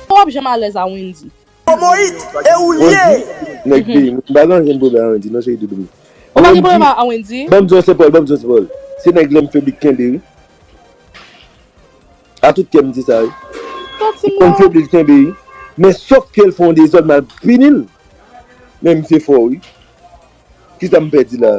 Ou pap janm alèz a Wendy. Omoyit e ou l ye. Wendy nèg peyi m pa gen ankenn pwoblèm a Wendy non cheri doudou m. Ou pa gen pwoblèm a Wendy. Banm di w se Paul banm di w se Paul. Se nèg lèm fè bit kenbe wi. A tout kè m di sa wi. Santi m lèm fè bit kenbe wi. Men sof ke l fè yon dezòd mal pini l. Men misye fò wi. Kisa m pèdi la.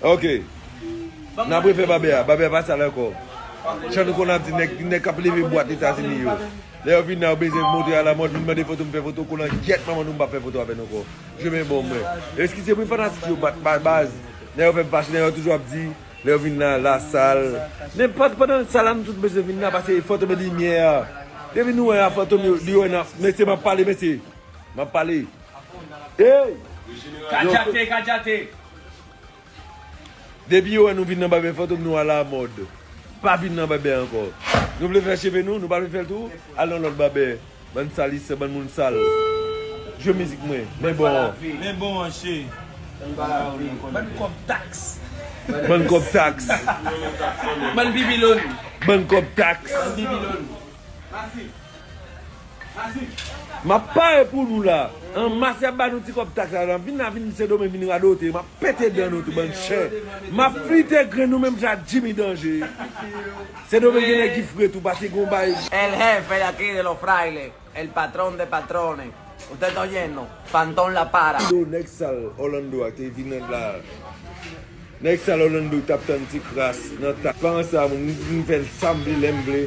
Ok Nap refè babe a Babe a pa sal ankò Jan nou konn ap di nèg Nèg kap leve bwat etazini yo Lè yo vin la yo bezwen montre a la mòd Vin mande foto m fè foto kolan gyèt manman nou m pap fè foto avè nou ankò Je men bon mwen Eskize wi fanatik yo bat ba baz Lè yo fè m fache Lè yo toujou ap di Lè yo vin la la sal Men pa pandan l sal la nou tout bezwen vin la Pase fantom e limyè a Depi nou wè a fantom yo li wè na Mesye map pale mesye Map pale Eyy Kadjate kadjate. Depi yo wè nou vin nan bèbè fantom nou alamòd pa vin nan bèbè ankò nou vle fè cheve nou nou pa vle fèl tou al nan lòt bèbè bann salissè bann moun sal jwe mizik mwen men bon an men bon an che bann kòb tax bann kòb tax bann bibilòn bann kòb tax bann bibilòn. Map pare pou nou la. An mas yap ba nou ti kob tax la nap vin la vin sendomeng vin radote map pete dan nou tou bann chen map flite grenn nou menm jan ak jimmy danje sendomeng gen nèg ki fre tou pase gon bay El jefe de aquí de los frailes el patron de patrones usted ta oyendo fantom la para. Yo nèg sal Orlando a te vin la nèg sal Orlando tap tann ti kras nan ta. Paran sa mwen fè sam vle lèm vle